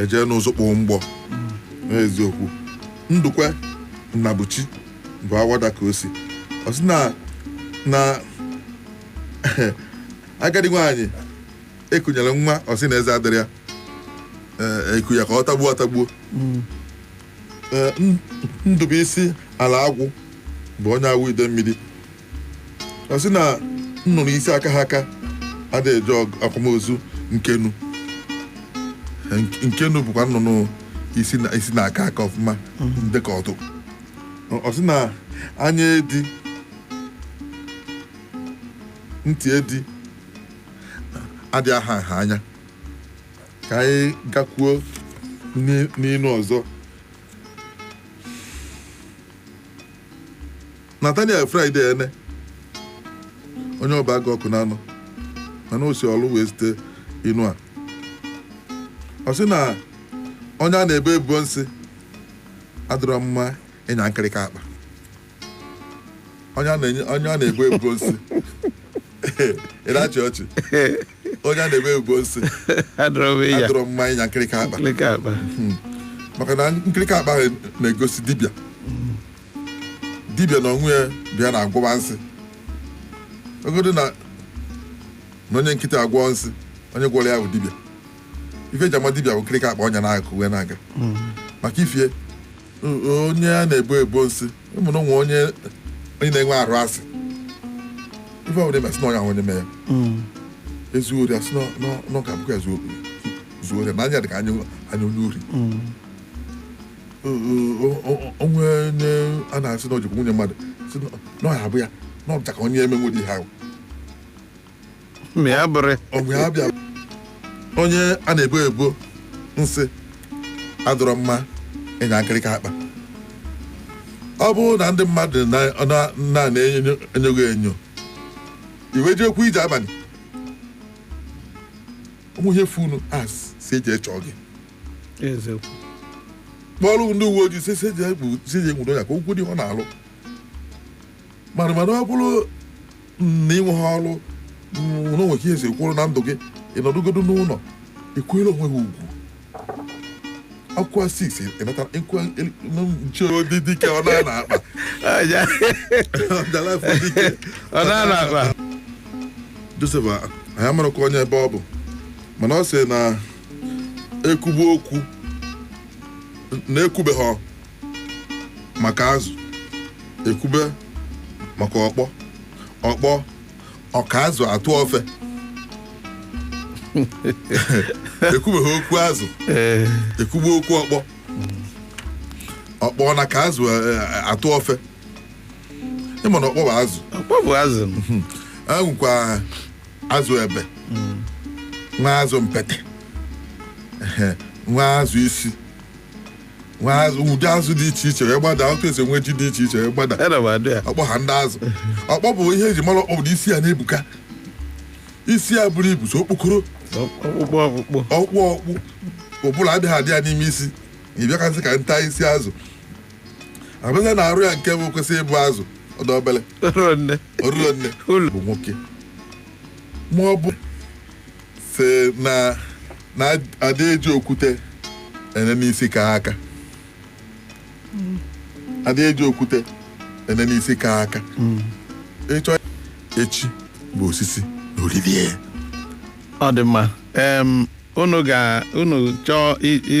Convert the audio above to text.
ejee n'ụzụ kpụọ mgbọ n'eziokwu Ndụkwe Nnabuchi bụ Awada ka o si ọ sị na na agadi nwaanyị ekunyere nwa ọ sị na eze adịrọ ya eh, eku ya ka ọ tagbuo atagbuo Ee, N- Ndụbụisi Alaagwụ bụ onye Awọ Idemmiri ọ sị na nnụnụ isi akaha aka adịghị eje ọg- akwamozu nkenu Nke- nkenu bụkwa nnụnụ isi na- isi na-aka aka ọfụma dịka ọdụ Ọ- ọ sị na anya edi ntị edi adị aha nha anya ka anyị gakwuo n'i- n'inu ọzọ Nathaniel Friday Ene onye Obeagụ Ọkụnanọ mana o si Ọlụ wee zite inu a ọ sị na onye a na-ebo ebubo nsị adịrọ mma ịnya nkịrịka akpa onye a na-enye- onye a na-ebo ebubo nsị ị na-achị ọchị onye a na-ebo ebubo nsị adịrọ mma ịnya nkịrịka akpa maka na nkịrịka akpa na-egosi dibịa dibịa na onwe ya bụ ya na-agwọba nsị ọ bụgodo na na onye nkịtị agwọ nsị onye gwọrọ ya bụ dibịa ife eji ama dibịa bụ nkịrịka akpa ọ nya n'akụkụ wee na-aga maka ifie onye a na-ebo ebubo nsị ị ma na enwe onye na-enwe arụ asị ife ọbụla mee asị na onye ahụ onye mee ya mm. ezuo ori asị na ọ ga-abụkwa ya zuo ori na anya dị ka anya onye ori mm. o nwee onye a na-asị na o jikwu nwunye mmadụ sị na ọ ya-abụ ya na ọ dịcha ka onye emenwu ụdị ihe ahụ ma ya bụrụ ọgwụ ya bịa onye a na-ebo ebubo nsị adịrọ mma ịnya nkịrịka akpa ọ bụrụ na ndị mmadụ na-enyo gị enyo i wee jekwuo ije abalị o nwee ihe funu a sị jee chọọ gị kpọrọ ndị uwe ojii sị jee nwudo ya ka okwu dị ọ na-alụ mana mana ọ bụrụ na ị nweghị ọrụ mm, na o nwe ka ihe si kwụrụ na ndụ gị ị nọdụgodo n'ụlọ kwanyere onwe gị ugwu akwụkwọ 6 ịnata ịkwụkwọ nche dị dike ọ na na akpa Aja. ọjala afọ dike Ọ na na akpa. Joseph a- anyị amarakwa onye ebe ọ bụ mana ọ sị na ekwube okwu na ekwubeghị maka azụ ekwube maka ọkpọ ọkpọ ọ ka azụ atụ ofe ekwubeghị okwu azụ ekwube okwu ọkpọ ọkpọ na-aka azụ eh, eh, atụ ofe ị ma na ọkpọ bụ azụ ọkpọ bụ azụ e nwekwa azụ ebe nwee azụ mpete ehe, nwee azụ isi nwee azụ ụdị azụ dị iche iche wee gbada otu esi enwe ji dị iche iche wee gbada ọkpọ ha ndị azụ ọkpọ bụ ihe eji mara ọkpọ bụ na isi ya na-ebuka isi ya buru ibu sọ okpokoro ọkpụkpụ ọkpụkpụ ọkpụ ọkpụ ụbụrụ adịghị adị ya n'ime isi na ị bịakasị ka nta isi azụ a bịazịa na arụ ya nke bụ kwesị ịbụ azụ ọ dị obele ọrụ nne ọrụlọ nne ụlọ bụ nwoke ma ọ bụ si na na adị eji okwute ene n'isi ka aka adị eji okwute ene n'isi ka aka ịchọ echi bụ osisi na olili ọ dị mma em unu ga unu chọọ i- i-